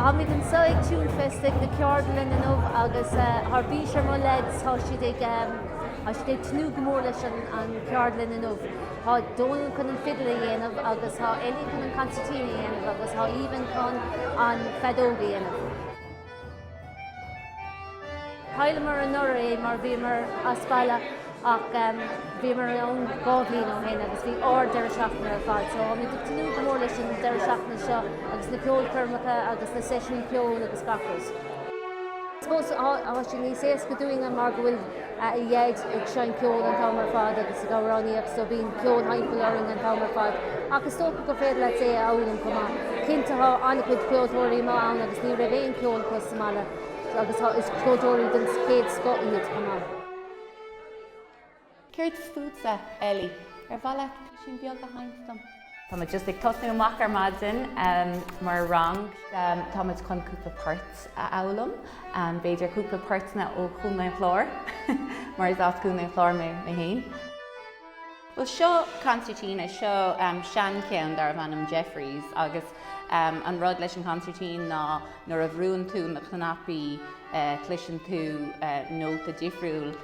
Táimíd annso ag TuneFest ag na ceardlainn inniu agus thar bís ar mo leaids tá siad ag tnúth go mór leis an an ceardlainn inniu. Tá Donal cun an fiddle a dhéanamh agus tá Ellie cun an concertina a dhéanamh agus tá Aoibhinn cun an feadóg a dhéanamh. Chailleamar anuraidh é mar bhíomar as baile ach bhíomar ann dhá bhliain ó shin agus bhí ard-deireadh seachtaine ar fad. So táimid ag tnúth go mór leis an deireadh seachtaine seo agus na ceolchoirmeacha agus na seisiúin cheoil agus gach rud. I suppose tá sé níos éasca dúinne mar go bhfuil a Dhaid ag seinnt ceoil an t-am ar fad agus ag amhránaíocht so bíonn ceol timpeall orainn an t-am ar fad ach is dócha gur féidir leat é a fhoghlaim chomh maith. Cinnte tá an-chuid ceoltóirí amuigh ann agus ní raibh aon cheol acu sa mbaile agus is ceoltóirí den chéad scoth iad chomh maith. Céard fútsa, Ellie? Ar mhaith leat písín beag a sheinnt dom? Táimid just ag tosnú amach ar maidin mar rang. Táimid chun cúpla port a fhoghlaim, b'fhéidir cúpla portanna ó Chontae an Chláir, mar is as Contae an Chláir mé fhéin. Bhuel seo concertina, seo sean cheann darbh ainm Jeffries agus an rud leis an concertina ná nuair a bhrúann tú na cnaipí cloiseann tú nóta difriúil.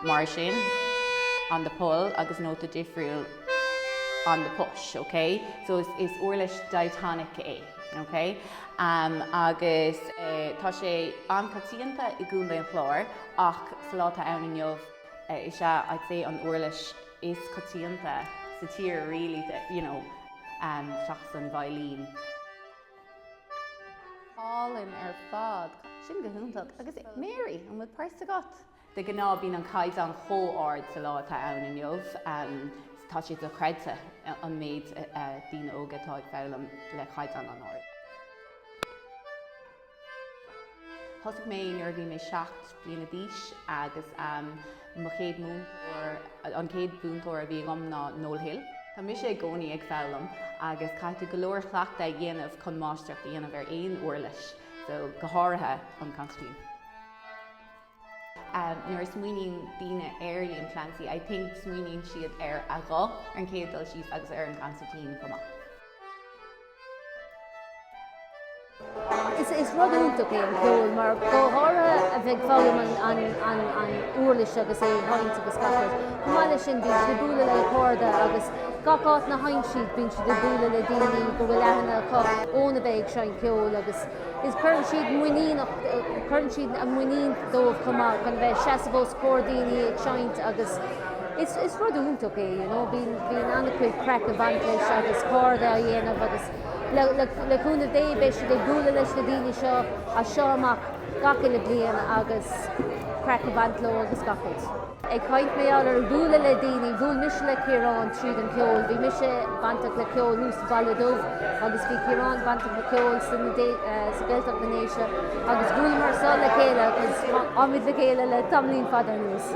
mar sin, on the pull agus nóta difriúil on the push, ok? So is is uirlis diatonic é, ok? Um agus eh tá sé an-choitianta i gContae an Chláir ach sa lá atá ann inniu eh is é I'd say an uirlis is coitianta sa tír really, you know, um seachas an veidhlín. Álainn ar fad. Sin go hiontach. Agus Mary, an bhfuil píosa agat? De gnáth bíonn an caighdeán chomh ard sa lá atá ann inniu, tá sé dochreidte an méid daoine óga atá ag foghlaim le caighdeán an-ard. Thosaigh mé nuair a bhí mé seacht bliana d'aois agus mo chéad múinteoir, an chéad mhúinteoir a bhí agam ná Noel Hill. Tá mise i gcónaí ag foghlaim agus caithfidh tú go leor cleachtaidh a dhéanamh chun máistreacht a dhéanamh ar aon uirlis, so go háirithe an consairtín. Nuair a smaoiníonn daoine ar Liam Clancy, I think, smaoiníonn siad ar a ghuth ar an chéad dul síos agus ar an gconsairtín chomh maith. Is rud iontach é an ceol mar go háirithe a bheith ag foghlaim an uirlis agus é a sheinnt agus gach rud. Chomh maith leis sin bíonn siad ag bualadh le cairde agus gach áit ina seinneann siad bíonn siad ag bualadh le daoine go bhfuil aithne acu óna bheith ag seinnt ceoil agus is cuireann siad muiníneach, cuireann siad an mhuinín dóibh chomh maith chun a bheith ag seasamh os comhair daoine ag seinnt agus is, is rud iontach é you know, bíonn, bíonn an-chuid craic ag baint leis agus cairde á dhéanamh agus le, le, le cúnamh Dé beidh siad ag bualadh leis na daoine seo as seo amach gach uile bliain agus craic ag baint leo agus gach rud. Ag caint ar, ar bhualadh le daoine, bhuail mise le Ciarán tríd an gceol. Bhí mise bainteach le ceol thuas sa Bhaile Dubh agus bhí Ciarán bainteach le ceol sa sa Gaeltacht na nDéise agus bhuaileamar le chéile agus táimid le chéile le tamaillín fada anuas.